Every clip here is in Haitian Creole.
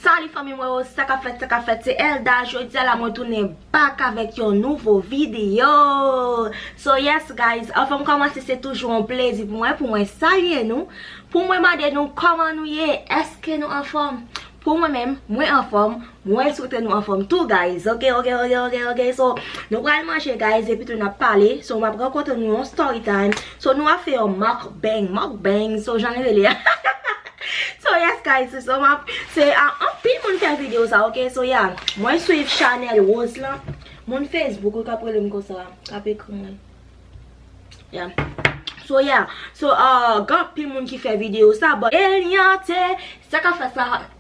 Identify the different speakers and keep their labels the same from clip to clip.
Speaker 1: Salut fanmi mwen yo, sa kap fèt, sa kap fèt, se Elda, jodi a la mwen tounen back avèk yon nouvo video So yes guys, anvan m kòmanse se toujou yon plezi pou mwen, pou mwen salye nou Pou mwen mande nou kòman nou ye, eske nou anfòm Pou mwen menm, mwen anfòm, Mwen swete nou anfom tou guys ok ok ok ok ok so nou pral manje guys epi tou nap pale so map rankontre nou yon story time so nou ap fè yon mock bang mock bang so jan li rele ahahahah so yes guys se sa map se anpil moun fè video sa ok so ya mwen swiv chanel rose lan moun facebook yo kap rele m konsa kap ekri mwen ya so ya so ahh gen anpil moun ki fè video sa but eliante sa kap fè sa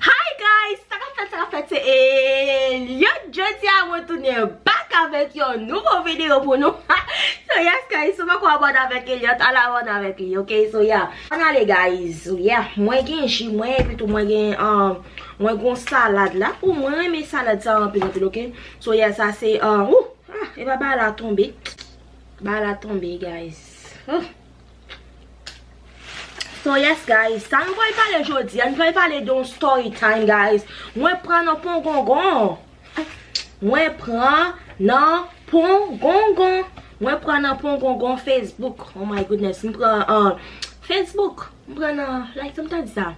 Speaker 1: Hi guys sa kap fèt sa kap fèt se Eliott jodi a mwen tounen back avèk yon nouvo video pou nou so yes guys si w poko abone avèk Eliott al abone avèk li ok so yeah ann ale guys so yeah mwen gen ji mwen epi tou mwen gen mwen gon salad la oh mwen renmen salad sa anpil anpil ok so yeah sa se ooh epa bagay la tonbe bagay la tonbe guys oh. So yes guys, sa nou pral pale jodi a, nou pral pale de yon story time guys Mwen pran nan pongongon Mwen pran nan pongongon Mwen pran nan pongongon Facebook Oh my goodness, m pran an Facebook M pran nan, like sa m ta di sa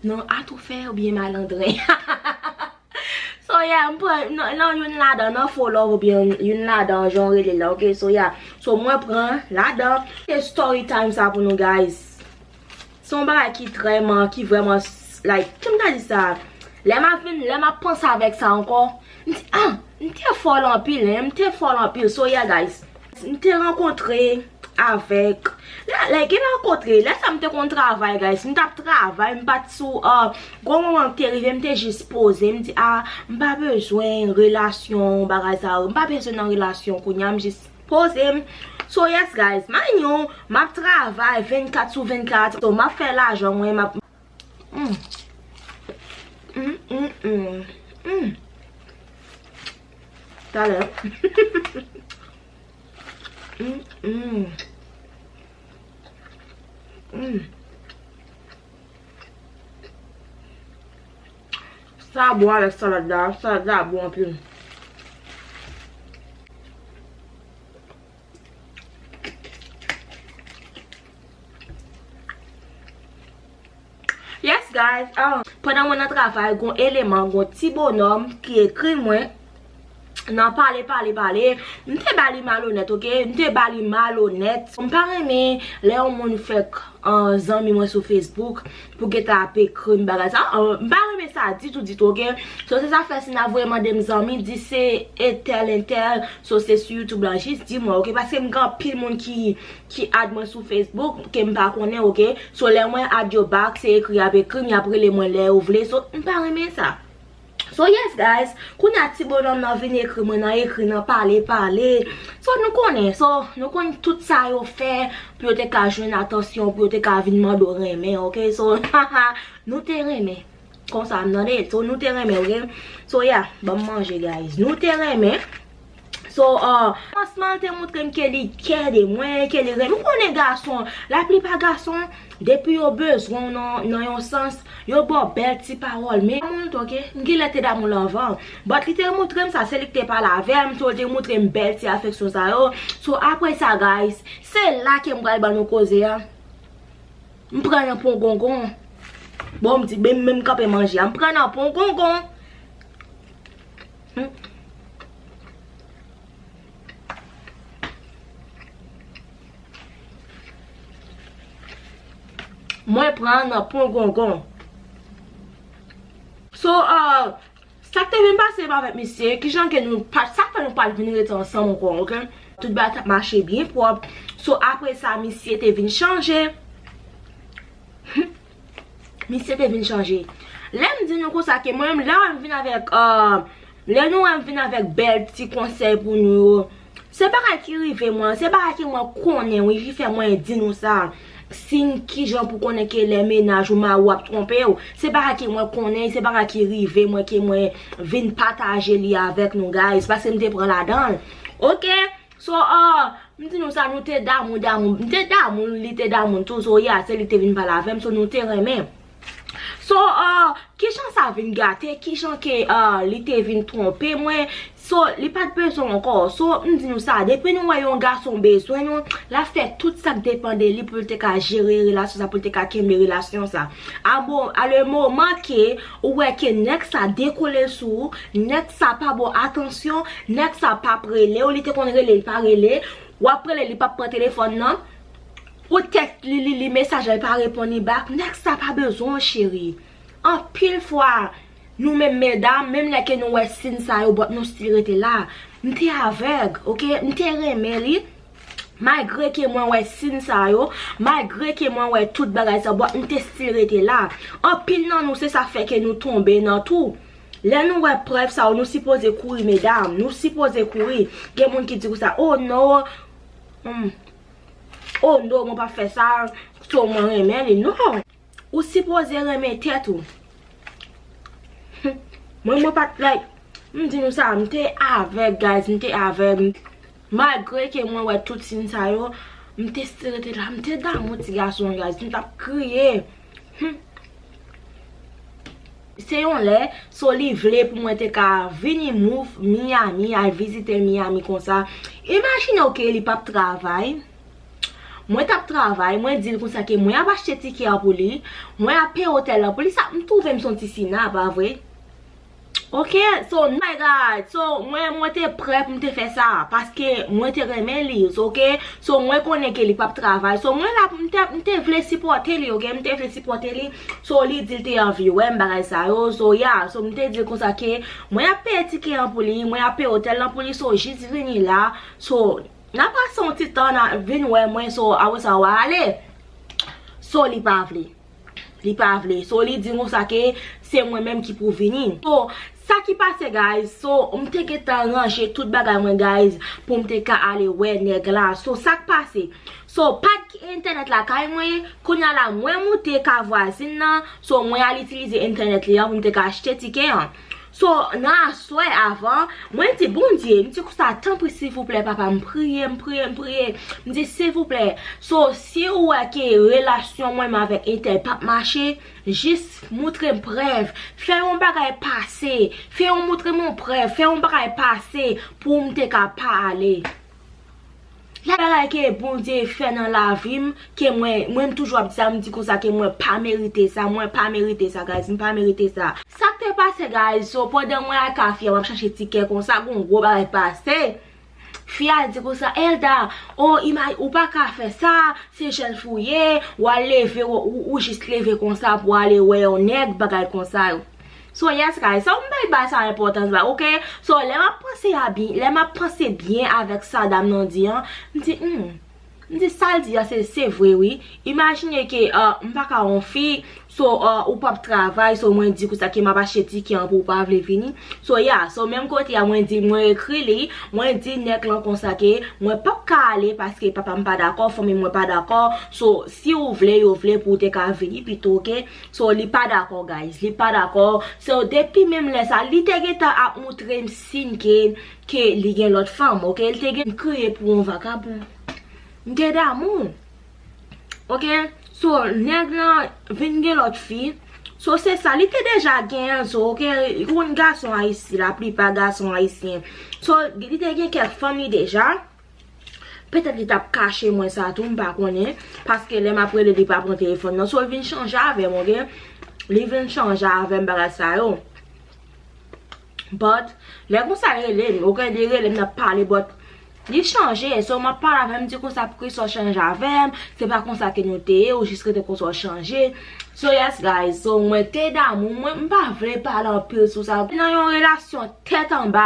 Speaker 1: Nan atoufè oubyen malandren Ha ha ha ha ha So yeah m pran nan youn ladan nan fo love oubyen youn ladan jan w rele l lan ok so yeah so mwen pran ladan se story time sa pou nou guys se yon bagay ki trè man ki vrèman like kem ta di sa lè m ap vin lè m ap panse avèk sa ankò m di ah m te fòl anpil hein m te fòl anpil so yeah guys. M te rankontre avèk, lè gen rankontre, lè sa m te konn travay guys, m tap travay, m pat sou, gon moman m te rive m te jis poze, m di a, m pa bezwen relasyon bagay sa yo, m pa bezwen nan relasyon kounya, m jis poze m, so yes guys, mind you, map travay 24 sou 24, so map fè lajan mwen, map. Sa bon avèk salad la, salad la bon anpil. Yes guys Pandan mwen nan travay gon eleman gon ti bonòm ki ekri mwen nan pale pale pale m te ba li malonèt ok m te ba li malonèt m pa renmen lè yon moun fèk zanmi mwen sou facebook Pou gentan ap ekrim bagay sa oh m pa renmen sa ditou ditou ok so se zafè si na voye mandem zanmi di se entèl entèl so se sou youtube la jis di mwen ok paske m gen anpil moun ki ki add mwen sou facebook ke m pa konnen ok so lè mwen add yo back se ekri yap ekrim yap rele mwen lè yo vle so m pa renmen sa. So yes guys, kounya ti bonòm nan vin ekri mwen nan ekri nan pale pale So nou konnen, so nou konn tout sa yo fè pou yo te ka jwenn atansyon pou yo te ka vin mande w renmen ok So haha nou te renmen konsa m tande So nou te renmen ok So yeah banm manje guys Nou te renmen. So kòmansman an te moutre m ke li kè de mwen, ke li renmen m. Ou konnen gason, la plipa gason, depi yo bezwen w nan yon sans, yo ba w bèl ti pawòl. Men damou l tou ok. M genlè te damou l anvan. But li te moutre m sa, se li ki te pale avè m, so li te moutre m bèl ti afeksyon sa yo. So apre sa guys, se la ke m pral ban nou koze a. M pran nan pongongon. Bon m di, men m kanpe manje a. M pran nan pongongon. Mwen pran nan pongongon. So, sa k te vin pase avèk misye, ki jan ke nou pat, sa k fè nou pat vin rete ansanm ankò, ok. Tout bagay tap mache byen pwòp. So, apre sa, misye te vin chanje. Misye te vin chanje. Lè m di nou konsa ke mwen menm lè wè m vin avèk, lè nou wè m vin avèk bèl ti konsèy pou nou yo, se bagay ki rive mwen, se bagay ke mwen konnen wi ki fè mwen di nou sa. Siy kijan pou konnen ke lè mennaj ou, mari ou ap twonpe ou, se bagay ke mwen konnen, se bagay ki rive mwen ke mwen vin pataje li avèk nou guys, paske m te pran ladan l. Ok! So ah m di nou sa nou te damou damou m te damou l li te damou m tou so ya se li te vin pale avè m so nou te renmen so ah kijan sa vin gate kijan ke ah li te vin twonpe mwen so li pat bezwen m ankò so m di nou sa depi nou wè yon gason bezwen nou l ap fè tout sa k depan de li pou l te ka jere relasyon sa pou l te ka kenbe relasyon sa a mo a le moman ke Ou wè ke nèg sa dekole l sou ou, nèg sa pa ba w atansyon, nèg sa pa p rele w, li te konn rele l pa rele, w ap rele l li pa p pran telefòn nan, ou tèks li li li mesaj la li pa reponn li bak, nèg sa pa bezwen w cheri. Anpil fwa nou menm medam, menm lè ke nou wè sin sa yo bòt nou stil rete la. M te avèg ok, m te renmen li. Malgre ke mwen wè sin sa yo, malgre ke mwen wè tout bagay sa yo, but m te still rete la. Anpil nan nou se sa fè ke nou tonbe nan tou. Lè nou wè prèv sa yo, nou sipoze kouri medam, nou sipoze kouri. Gen moun ki di konsa, oh no, oh no mwen pap fè sa, so mwen renmen li. Non! Ou sipoze renmen tèt ou. Mwen mwen pat like. M di nou sa m te avèg guys m te avèg. Malgre ke mwen wè tout siy sa yo m te still rete la. M te damou ti gason an guys. M tap kriye. Se yon lè so li vle pou mwen te ka vini move Miami al vizite Miami konsa. Imajine w ke li pap travay. Mwen tap travay, mwen dil konsa ke mwen ap achte tikè a pou li, mwen ap peye otèl la pou li, sa m twouve m son ti sina, pa vre? Ok, so oh my God, so mwen mwen te prè pou m te fè sa, paske mwen te renmen li, so ok, so mwen konnen ke li pap travay, so mwen la pou m te, m te vle sipòte li ok, m te vle sipòte li, so li dil te anvi wè m bagay sa yo, so ya, so m te dil konsa ke mwen ap peye tikè an pou li, mwen ap peye otèl la pou li, so jis vini la, so. Na pase yon ti tan na vin wè mwen so awe sa wa ale so li pa vle li pa vle so li di nou sa ke se mwen menm ki pou vini so sa ki pase guys so m te gentan ranje tout bagay mwen guys pou m te ka ale wè nèg la so sak pase so pat gen entènèt lakay mwen kounya la mwen moute ka vwazin nan so mwen al itilize entènèt li an pou m te ka achte tikè an. So nan aswè avan mwen di Bondye m di konsa tanpri silvouplè papa m priye m priye m priye m di silvouplè so si ou wè ke relasyon mwen m avèk entèl pap mache jis moutre m prèv fè yon bagay pase fè yon moutre m yon prèv fè yon bagay pase pou m te ka pa ale. Gen bagay ke Bondye fè nan lavim ke mwen, mwen m toujou ap di sa, m di konsa ke mwen pa merite sa, mwen pa merite sa guys, m pa merite sa. Sak te pase guys, so pandan mwen ak a fi a map chache tikè konsa gon gwo bagay pase, fi a di konsa Elda, oh imaj, ou pa ka fè sa, se jèn fi w ye, wal leve, ou jis leve konsa pou ale wè yon nèg, bagay konsa yo. So yes guys, sa m bay ba sa enpòtans ba ok, so lè map panse a byen, lè map panse byen avèk sa dam nan di an, m di humm, m di sal di a se vre wi, imajine ke m pa ka on fi, so ou pap travay, so mwen di konsa ke map achte tikè an pou ou pa vle vini, so ya, so menm kote a mwen di mwen ekri li, mwen di nèg lan konsa ke mwen pap ka ale paske papa m pa dakò, fanmi mwen pa dakò, so si ou vle yo vle pou ou te ka vini pito ok. So li pa dakò guys, li pa dakò, so depi menm lè sa, li te gentan ap moutre m siy ke, ke li gen lòt fanm ok, li te gen. M kriye pou yon vakabon. M gen damou. Ok, so nèg lan vin gen lòt fi, so se sa, li te deja genyen so ok, ou konn gason ayisyen, la plipa gason ayisyen, so li te gen kèk fanm li deja. Petèt li tap kache mwen sa tou m pa konnen paske lè map rele li pa pran telefòn nan so l vin chanje avè m ok li vin chanje avè m bagay sa yo but lè konsa l rele m ok li rele m nap pale but li chanje so map pale avè l m di konsa poukisa w chanje avè m se pa konsa ke nou te ye ou jis rete konsa w chanje. So yes guys so mwen te damou mwen m pa vle pale anpil sou sa mte nan yon relasyon tèt anba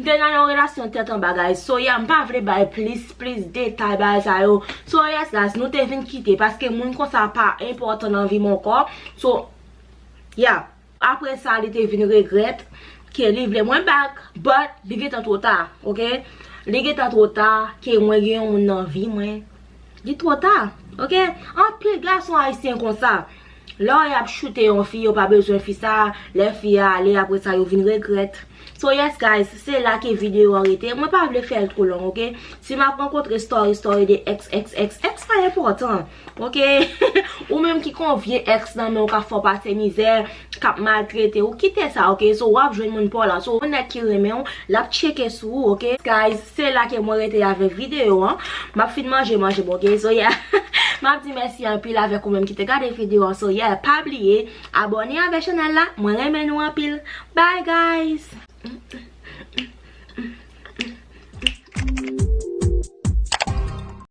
Speaker 1: mte nan yon relasyon tèt anba guys so yeah m pa vle bay plis plis detay bagay sa yo so yes guys nou te vin kite paske moun konsa pa enpòtan nan vi m ankò so yeah. Aprè sa li te vin regrèt ke li vle mwen back but li gentan two ta ok li gentan two ta ke mwen gen yon moun nan vi mwen li two ta ok anpil gason ayisyen konsa lè y ap choute yon fi yo pa bezwen fi sa lè fi a ale aprè sa yo vin regrèt so yes guys se la ke video an rete mwen pa vle fè l two long ok si m ap rankontre story story de ex ex ex ex pa enpòtan. Ok Ou menm ki kon vye ex nan menw kap fèw pase mizè Kap maltretew kite sa ok So wap jwenn moun paw la So yon nèg ki renmenw lap tcheke sou ou ok Guys se la ke mwen rete avèk video an Map fin manje manjem ok So yeah Map di mèsi anpil avèk ou menm ki te gade video an So yeah pa bliye abòne avèk chanèl la Mwen renmen nou anpil Bye guys